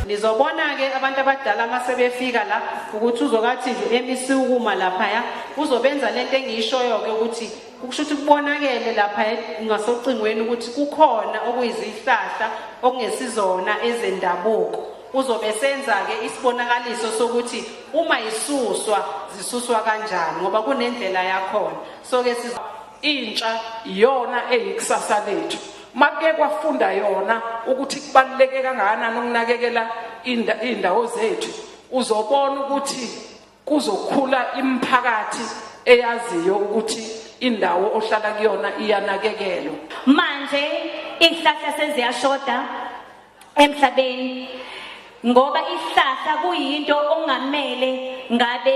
nizobona-ke abantu abadala uma sebefika la ukuthi uzokathi nje emisi ukuma laphaya uzobenza le nto engiyishoyo-ke ukuthi kusho ukuthi kubonakele lapha ngasocingweni ukuthi kukhona okuyizihlahla okungesizona ezendabuko uzobe senza-ke isibonakaliso sokuthi uma yisuswa zisuswa kanjani ngoba kunendlela yakhona so-ke Intsha iyona eyikusasa lethu. Make kwafunda yona ukuthi kubaluleke kangakanani ukunakekela indawo zethu. Uzobona ukuthi kuzokhula imiphakathi eyaziyo ukuthi indawo ohlala kuyona iyanakekelwa. Manje izihlahla seziyashoda emhlabeni ngoba isihlahla kuyinto ongamele ngabe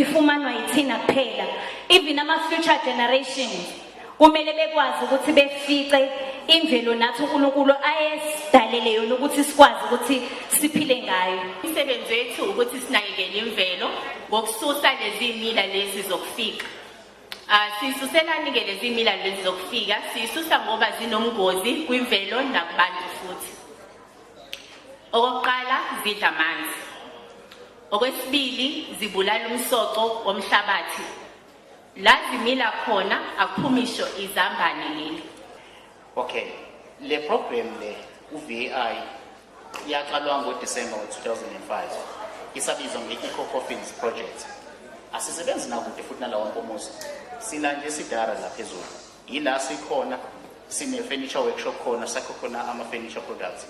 ifumanwa yithina kuphela even ama-future generations kumele bekwazi ukuthi befice imvelo nathi unkulunkulu ayesidalele yona ukuthi sikwazi ukuthi siphile ngayo imisebenzi yethu ukuthi sinakekele imvelo ngokususa lezi mila lezi zokufika Ah, sisuselani-ke lezi milalo lezi zokufika sisusa ngoba zinomngozi kwimvelo nakubantu futhi okokuqala zidla amanzi okwesibili zibulala umsoco womhlabathi la zimila khona akuphumisho izambane leli Okay. Le program le uVI yaqalwa ngoDisemba ngo-2005 isabizwa nge-Eco Coffins Project. Asisebenzi nakude futhi nalawo nkomuzi. Sina nje sidara la phezulu. Yila sikhona sine-furniture workshop khona sakho khona ama-furniture products.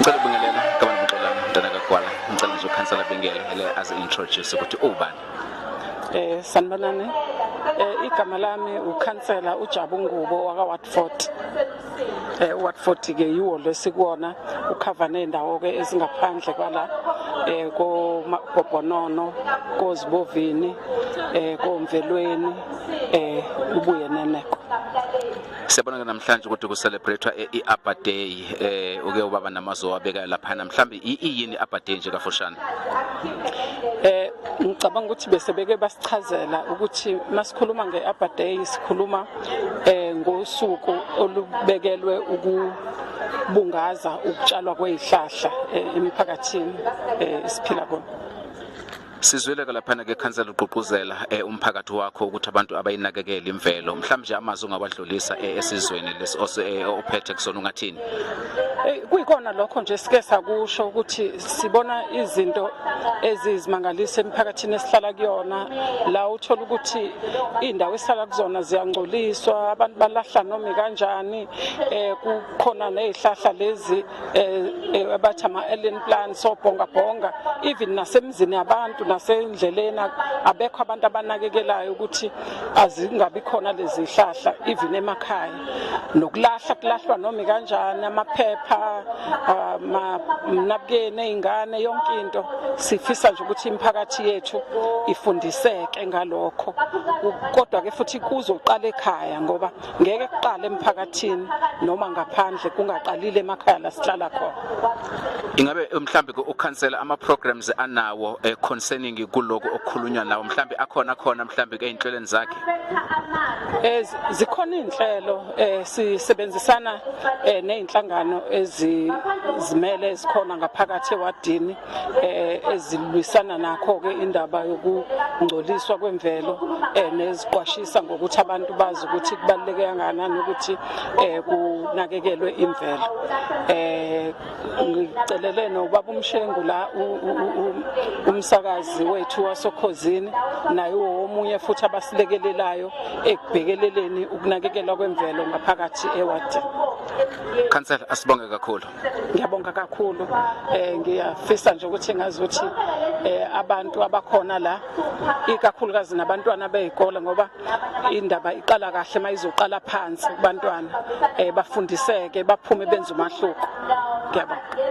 ngicela ubingelela kabani buxolana mntana kagwala ngicela nje ukhansela bingele ele azi-introduce ukuthi ubani eh sanibonani eh igama lami ukhansela uJabu Ngubo waka Watford eh Watford ke yiwo lesikuona ukhava nendawo ke ezingaphandle kwala eh ko Gobhonono kozibovini eh komvelweni eh ubuye neneko Siyabona ke namhlanje ukuthi ku celebrate i-Abba Day eh uke ubaba namazo wabeka lapha namhlanje iyini i-Abba Day nje kafushane Eh ngicabanga ukuthi bese beke basichazela ukuthi masikhuluma nge-Abba Day sikhuluma eh ngosuku olubekelwe uku bungaza ukutshalwa kwezihlahla eh, emiphakathini eh, esiphila kona Sizweleka laphana ke khansela ugqugquzela eh, umphakathi wakho ukuthi abantu abayinakekele imvelo mhlawumbe nje amazwi ungawadlulisa eh, esizweni lesi eh, ophethe kusona ungathini Eh, kuyikona lokho nje sike sakusho ukuthi sibona izinto ezizimangalisa emphakathini esihlala kuyona la uthola ukuthi indawo esihlala kuzona ziyangcoliswa abantu balahla noma kanjani eh kukhona nezihlahla lezi eh, eh abathi ama alien plan so bhonga bhonga even nasemzini yabantu nasendleleni abekho abantu abanakekelayo ukuthi azingabi khona lezi hlahla even emakhaya nokulahla kulahlwa noma kanjani amaphepha ah, amnabukeni ezingane yonke into sifisa nje ukuthi imiphakathi yethu ifundiseke ngalokho kodwa ke futhi kuzoqala ekhaya ngoba ngeke kuqale emphakathini noma ngaphandle kungaqalile emakhaya la sihlala khona ingabe mhlambe ukhansela ama programs anawo eh, concerning kuloko okukhulunywa nawo mhlambe akhona khona mhlambe einhlelweni zakhe eh zikhona inhlelo eh sisebenzisana eh nezinhlangano ezizimele ezikhona ngaphakathi ewadini eh, ezilwisana nakho-ke indaba yokungcoliswa kwemvelo eh, neziqwashisa ngokuthi abantu bazi ukuthi kubaluleke kangakanani ukuthi eh, kunakekelwe imvelo ngicelele nobaba umshengu la umsakazi wethu wasokhozini naye womunye futhi abasilekelelayo ekubhekeleleni ukunakekelwa kwemvelo ngaphakathi ewadini khansela asibonge kakhulu ngiyabonga kakhulu eh ngiyafisa nje ukuthi ngazi ukuthi eh abantu abakhona la ikakhulukazi nabantwana bezikole ngoba indaba iqala kahle mayizoqala phansi kubantwana eh bafundiseke baphume benze umahluko ngiyabonga